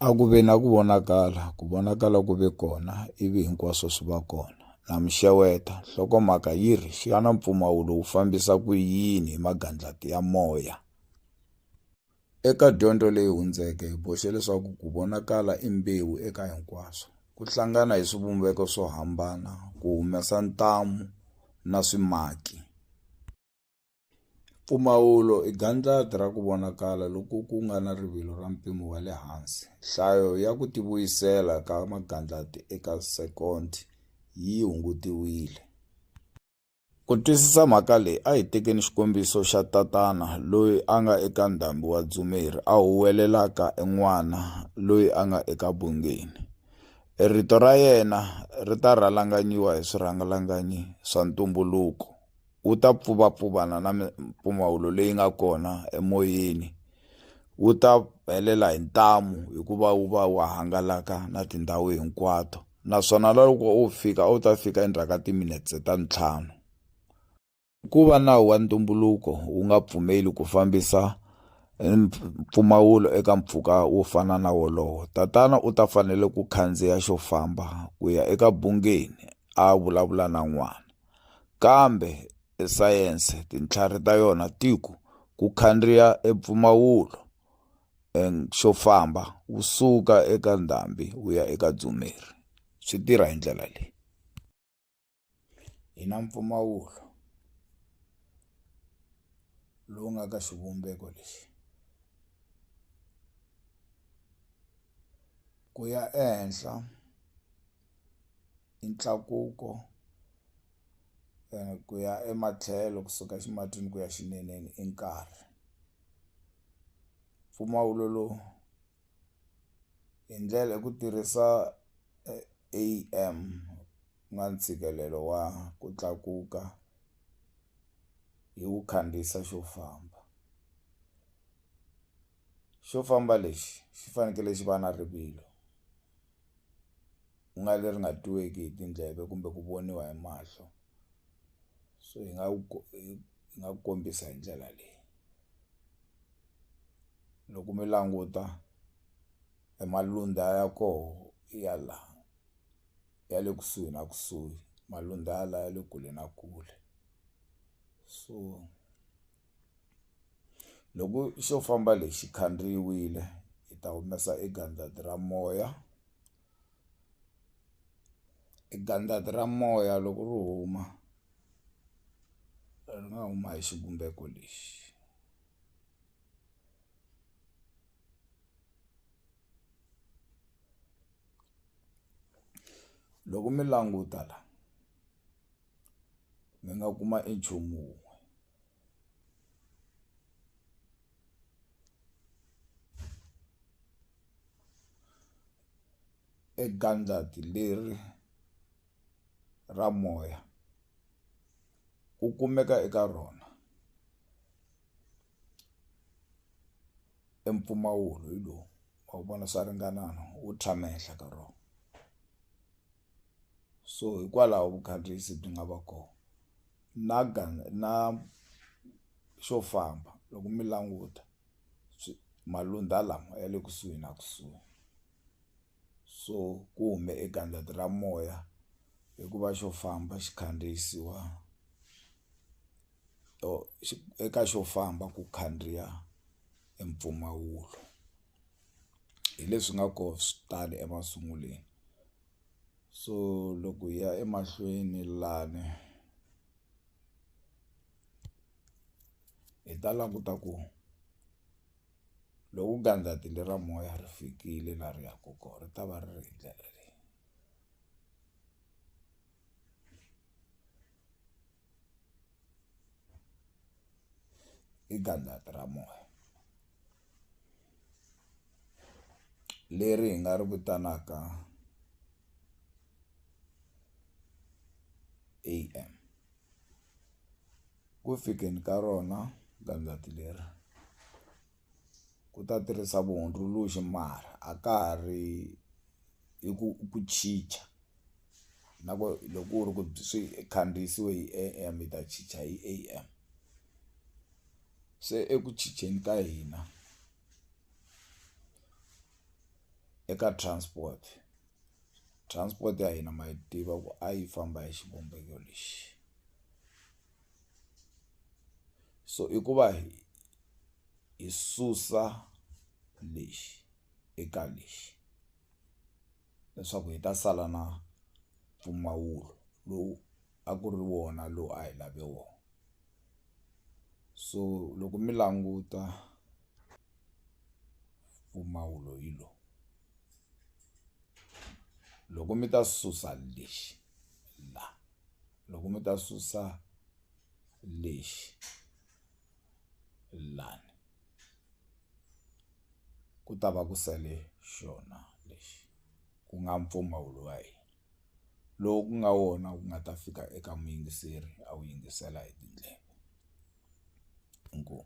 a ku ve na ku vonakala ku vonakala ku ve kona ivi hinkwaswo swi va kona na mixeweta nhlokomhaka yi ri xana mpfumawulo wu fambisa ku yini hi magandlati ya moya eka dyondzo leyi hundzeke hi boxe leswaku ku vonakala i mbewu eka hinkwaswo ku hlangana hi swivumbeko swo hambana ku humesa ntamu na swimaki Mpfumawulo i gandlati ra ku vonakala loko ku nga na rivilo ra mpimo wa le hansi. Nhlayo ya ku tivuyisela ka magandlati eka sekondi yi hungutiwile. Ku twisisa mhaka leyi a hi tekeni xikombiso xa tatana loyi a nga eka ndhambi wa dzumeri a huwelelaka en'wana loyi a nga eka bungeni. E rito ra yena ri ta rhalanganyiwa hi swirhangalanganyi swa ntumbuluko. wu ta pfuvapfuvana na mimpfumawulo leyi nga kona emoyeni wu ta helela hi ntamu hikuva wu va wu hangalaka na tindhawu hinkwato naswona loko u fika u ta fika endzhaku ka timinetse ta ntlhanu ku va nawu wa ntumbuluko wu nga pfumeli ku fambisa mpfumawulo eka mpfhuka wo fana na wolowo tatana u ta fanele ku khandziya xo famba ku ya eka bungeni a vulavula na n'wana Kambe e sayense tintlhari ta yona ti ku ku khandziya e mpfumawulo and xo famba wu suka eka ndhambi wu ya eka dzumeri swi tirha hi ndlela leyi hi na mpfumawulo lowu nga ka xivumbeko lexi ku ya ehenhla i ntlakuko ku ya ematlhelo kusuka ximatsini ku ya xineneni i nkarhi mpfumawulo lowu hi ndlela hi ku tirhisa A_M ku nga ntshikelelo wa ku tlakuka hi wu khandziyisa xo famba xo famba lexi xi fanekele xi va na rivilo. ku nga leri nga twiweki hi tindleve kumbe ku voniwa hi mahlo so hi nga wu hi nga ku kombisa hi ndlela leyi loko mi languta e malundza ya koho ya la ya le kusuhi na kusuhi malundza ya la ya le kule na kule so. Loko xo famba lexi khandziyiwile hi ta humesa e gandlati ra moya e gandlati ra moya loko ri huma ri nga huma hi xivumbeko lexi loko mi languta la. mi nga kuma e nchumu wun'we e gandlati leri ra moya wu kumeka eka rona e mpfumawulo hi lowu ma wu vona swa ringanana wu tshama ehenhla ka rona. so hikwalaho vukhandziyisi byi nga va kona na na xo famba loko mi languta malundza lama ya le kusuhi na kusuhi so ku hume e gandlati ra moya hikuva xo famba xi khandziyisiwa or eka xo famba ku khandziya e mpfumawulo. hi leswi nga ko swi tale emasunguleni so loko hi ya emahlweni lani hi ta languta ku loko gandlati lera moya ri fikile la ri yaku ko ri ta va ri ri hi ndlela leyi. i gandlati ra moya leri hi nga ri vitanaka am ku fikeni ka rona gandlati leri ku ta tirhisa vuhundzuluxi mara a ka ha ri hi ku ku chicha na ku loko ku ri ku swi khandziyisiwe hi A_M hi ta chicha hi A_M se eku chicheni ka hina eka transport transport ya hina ma yi tiva ku a yi famba hi xivumbeko lexi so i ku va hi. hi susa lexi eka lexi leswaku hi ta sala na mpfumawulo lowu a ku ri wona lowu a hi lave wona so loko mi languta mpfumawulo hi lo loko mi ta susa lexi la loko mi ta susa lexi lani ku ta va ku sale xona lexi ku nga mpfumawulo wa hina lowu ku nga wona wu nga ta fika eka muyingiseri a wu yingisela hi tindleve inkomu.